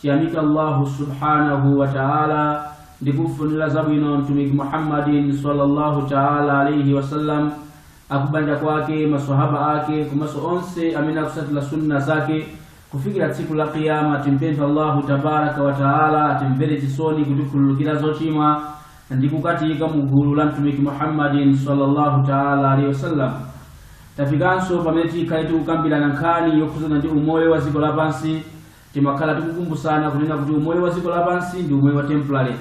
Tiyamika Allahu subhanahu wa ta'ala ndi kumfunira zabwino Mtumiki Muhammadin sallallahu ta'ala alaihi wasallam akubanja kwake maswahaba ake komanso onse amene akusatira sunna zake kufikira tsiku la kiyama timpempha allahu tabaraka wa taala atimvere chisoni kutikhululukira zochimwa ndi kukatiika mu gulu la mtumiki muhammadin sallallahu taala alaihi wasallam tafikanso pamene tikhale tikukambirana nkhani yokhuzana ndi umoyo wa dziko lapansi Timakhala tikukumbusana kunena kuti umoyo wa dziko lapansi ndi umoyo wa temporary.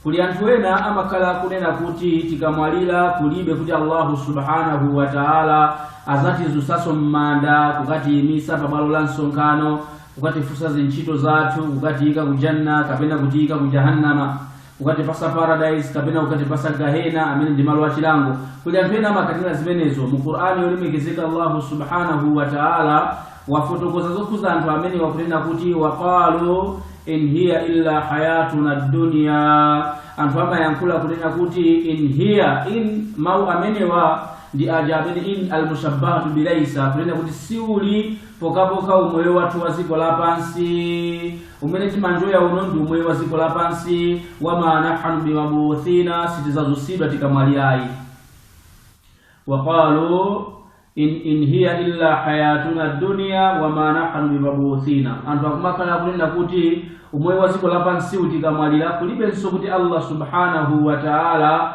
Kuli anthu ena amakhala akunena kuti tikamwalira kulibe kuti Allahu subhanahu wa ta'ala azatizusaso m'manda kukatiyimisa pa bwalo la msonkhano kukatifusa zintchito zathu kukatiyika ku janna kapena kutiyika ku jahannama kukatipasa paradise kapena kukatipasa gahena amene ndi malo achilango kuli anthu ena amakanira zimenezo mu qur'ani yolemekezeka allahu subhanahu wa taala wafotokoza zokhuza anthu amenewa kunena kuti waqalu in hiya illa hayatuna dunya anthu amayankhula kunena kuti in hiya in mau amenewa ndi aja amene in almushabbahatu bilaisa kunena kuti siuli kokakoka umoyo wathu wa dziko lapansi mmene timanjoya uno ndi umoyo wa dziko lapansi wama nahanu bimabuthina sitizazutsidwa tikamwalirayi waqalu in, in hiya illa hayatuna dunya wama nahanu bimabuthina anthu akumakhala akunena kuti umoyo wa dziko lapansi uu tikamwalira kulibenso kuti allah subhanahu wa taala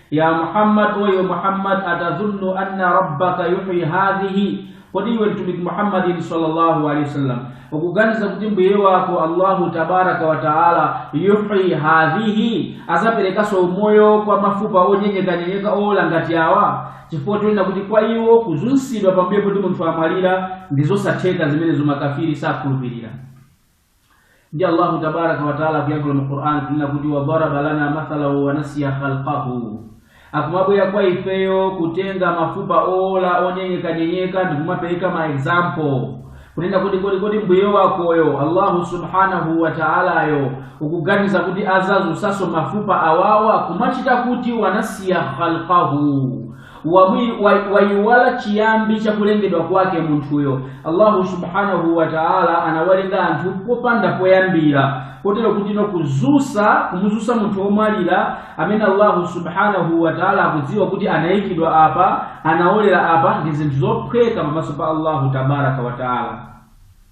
ya muhammad e iwe muhammad atazunnu anna rabbaka yuhyi hadhihi kodi iwe mtumiki muhammadin sallallahu alaihi wasallam ukuganiza kuti mbuye wako allahu tabaraka wa taala yuhyi hadhihi azaperekanso umoyo kwa mafupa onyenyekanyenyeka owola ngati awa chifukwa chonena kuti kwa iwo kuzusidwa pambuyo poti munthu wamwalira ndi zosatheka zimenezo makafiri sakhulupirira ndi allahu tabaraka wataala akuyankhula mu qur'an kunena kuti wadaraba lana mathalan wanasiya khalqahu akumabwera kwa ifeyo kutenga mafupa owola onyenyekanyenyeka ndi kumapereka ma example kunena kuti kodi kodi mbuye wakoyo allahu subhanahu wataalayo ukuganiza kuti azazusaso mafupa awawa kumachita kuti wanasiya khalqahu wabwi- wa- wayiwala chiyambi cha kulengedwa kwake munthuyo allahu subhanahu wa taala anawalenga anthu popanda poyambira kotero kuti no kuzusa kumuzusa munthu womwalira amene allahu subhanahu wa taala akudziwa kuti anayikidwa apa anawolera apa ndi zinthu zophweka pamaso pa allahu tabaraka wa taala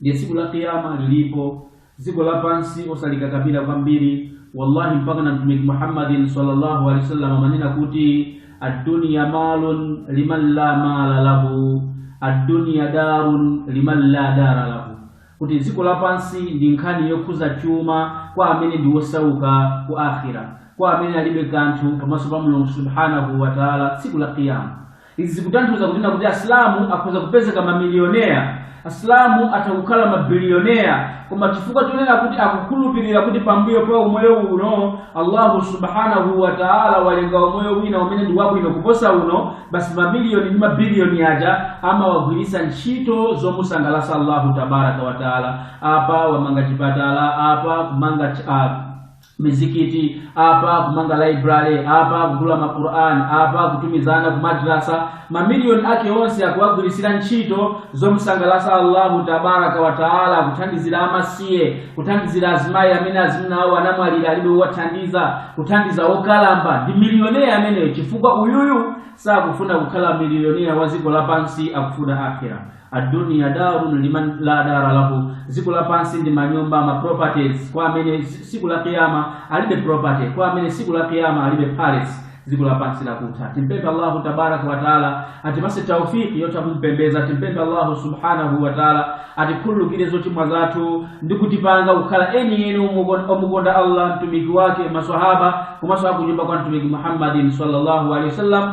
ndiye tsiku la kiyama lilipo dziko lapansi osalikakamira kwambiri wallahi mpaka na mtumiki muhammadin sallallahu alaihi wasallam amanena kuti addunya malu man la mala lahu addunya daru man la dara lahu kuti dziko lapansi ndi nkhani yokhuza chuma kwa amene ndi wosauka ku akhira kwa amene alibe kanthu pamaso pa mulungu subhanahu wa taala tsiku la kiyama Izi zikutanthauza kunena kuti Asilamu akhoza kupezeka mamiliyonea, Asilamu atha kukhala mabiliyonea, koma chifukwa chonena kuti akukhulupirira kuti pambuyo pa umoyo uno Allahu subhanahu wa ta'ala walenga umoyo wina umene ndi wabwino kuposa uno, basi mamiliyoni ndi mabiliyoni aja amawagwiritsa ntchito zomusangalatsa Allahu tabaraka wa ta'ala. Apa akumanga chipatala, apa akumanga ch- ah, mizikiti apa akumanga library apa akugula maquran apa akutumiza ana kumadrasa mamiliyoni ake onse akuwagwirisira ntchito zomsangalasa allahu tabaraka wataala kuthandizira amasiye kuthandizira azimayi amene azimuna awo anamwalira alibe owathandiza kuthandiza okalamba ndi miliyonea ameneyo chifukwa uyuyu sakufuna kukhala miliyonea wa dziko lapansi akufuna akhira addunya darun liman la dara lahu dziko lapansi ndi manyumba ma properties kwa amene zi- siku la kiyama alibe property kwa amene siku la kiyama alibe palace dziko lapansi ndi lakutha timpemphe allahu tabaraka wa taala atipase taufiki yotha kumpembeza timpemphe allahu subhanahu wa taala atikhululukire zochimwa zathu ndi kutipanga kukhala eni eni omukon- omukonda allah mtumiki wake maswahaba komanso akunyumba kwa mtumiki muhammadin sallallahu alaihi wasallam